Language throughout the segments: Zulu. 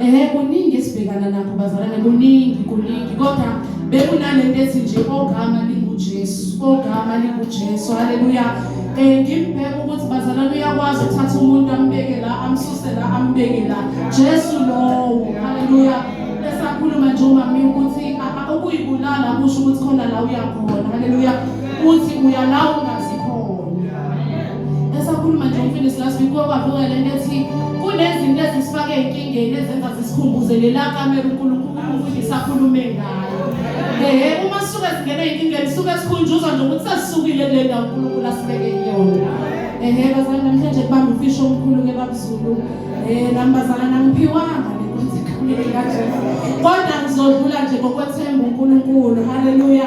ehe kuningi esibhekana nakho bazalwane kuningi kuningi kodwa bekunalento ethi nje ogama lingujesu ogama lingujesu haleluya um eh, ngimbheka ukuthi bazalwane uyakwazi uthatha umuntu ambeke la amsuse la ambeke la jesu lowo haleluya esakhuluma nje umami ukuthi ukuyibulala kusho ukuthi khona la uyakhona haleluya uthi uyalawo ngazi esakhuluma nje umfundisi last week kwabavuka le nto ethi kunezinto ezisifake enkingeni ezenza zisikhumbuze lela kamera unkulunkulu umfundisi akhulume ngayo ehe uma sisuke singena enkingeni suke sikhunjuzwa nje ukuthi sasisukile kule ndawo unkulunkulu asibeke kuyona ehe bazali namhlanje kubamba umfisho omkhulu ke babuzulu um nami bazala nangiphiwanga kodwa ngizodlula nje ngokwethemba uNkulunkulu haleluya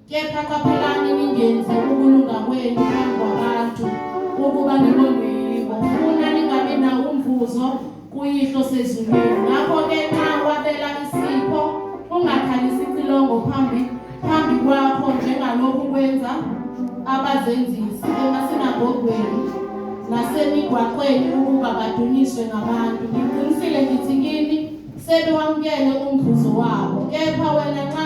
Kepha qaphelani ningenzi ukulunga kwenu phambi kwabantu ukuba nibonwe yibo, funa ningabi nawo umvuzo kuYihlo sezulwini. Ngakho-ke nxa wabela isipho, ungakhalisi icilongo phambi phambi kwakho njengalokhu kwenza abazenzisi emasinagogweni nasemigwaqweni ukuba badunyiswe ngabantu. Ngiqinisile ngithi kini, sebewamukele umvuzo wabo. Kepha wena nxa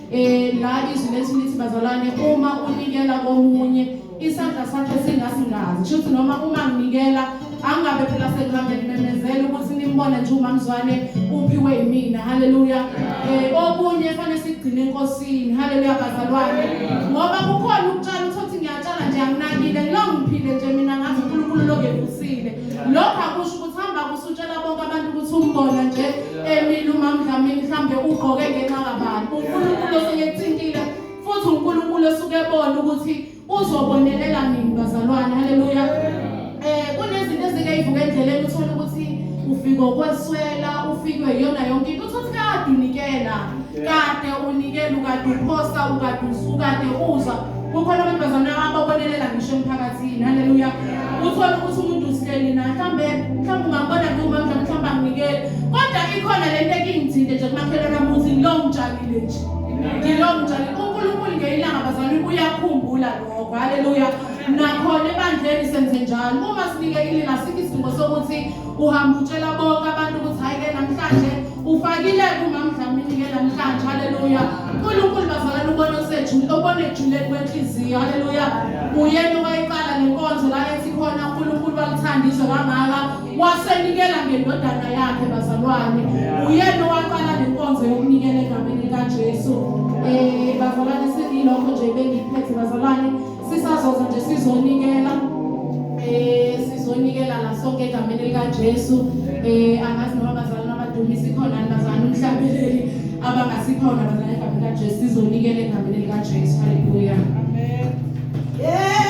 Eh la izwi lethu lithi bazalwane uma unikela komunye isandla sakhe singasingazi kushuthi noma uma nginikela angabe phela sekuhambe nimemezela ukuthi nimbone nje umamzwane uphiwe yimina haleluya eh okunye fanele sigcine enkosini haleluya bazalwane ngoba kukhona ukutshala uthothi ngiyatshala nje anginakile ngilongiphile nje mina ngathi uNkulunkulu lokevusile lokho akusho ukuthi hamba kusutshela bonke abantu ukuthi umbona nje Emile uMamdlamini mhlambe ugqoke ngenxa kabani. UNkulunkulu oseyethintile futhi uNkulunkulu osuke ebona ukuthi uzobonelela nini bazalwane. Haleluya. Eh kunezinto ezike ivuka endleleni uthola ukuthi ufika okweswela, ufikwe yona yonke into uthi kade unikela. Kade unikela ukade uphosa ukade usuka kade uza kukhona abantu bazana ababonelela ngisho emphakathini haleluya uthole ukuthi umuntu usilele na mhlambe mhlambe ungabona kuma mhlambe mhlambe anginikele kodwa ikhona le nto ekingithinte nje kumakhelwana muthi ngilo ngitshalile nje ngilo ngitshalile unkulunkulu ngeyilanga bazalwane uyakhumbula lokho haleluya nakhona ebandleni senze njalo uma sinike ilinga sikho isidingo sokuthi uhambe utshela bonke abantu ukuthi hhayi-ke namhlanje ufakile kumamdlamini ke namhlanje haleluya unkulunkulu bazalana ubona osejule obona ejuleni kwenhliziyo haleluya uyena owayiqala nenkonzo la ethi khona unkulunkulu wakuthanda izwe kangaka wasenikela ngendodana yakhe bazalwane uyena owaqala nenkonzo yokunikela egameni likajesu um bazalwane sengilokho nje bengiphethe bazalwane sisazoza nje sizonikela eh sizonikela la sonke egameni lika Jesu eh angazi noma bazalwana abadumisi khona bazana umhlabeleli abangasikhona bazana egameni lika Jesu sizonikela egameni lika Jesu haleluya amen yeah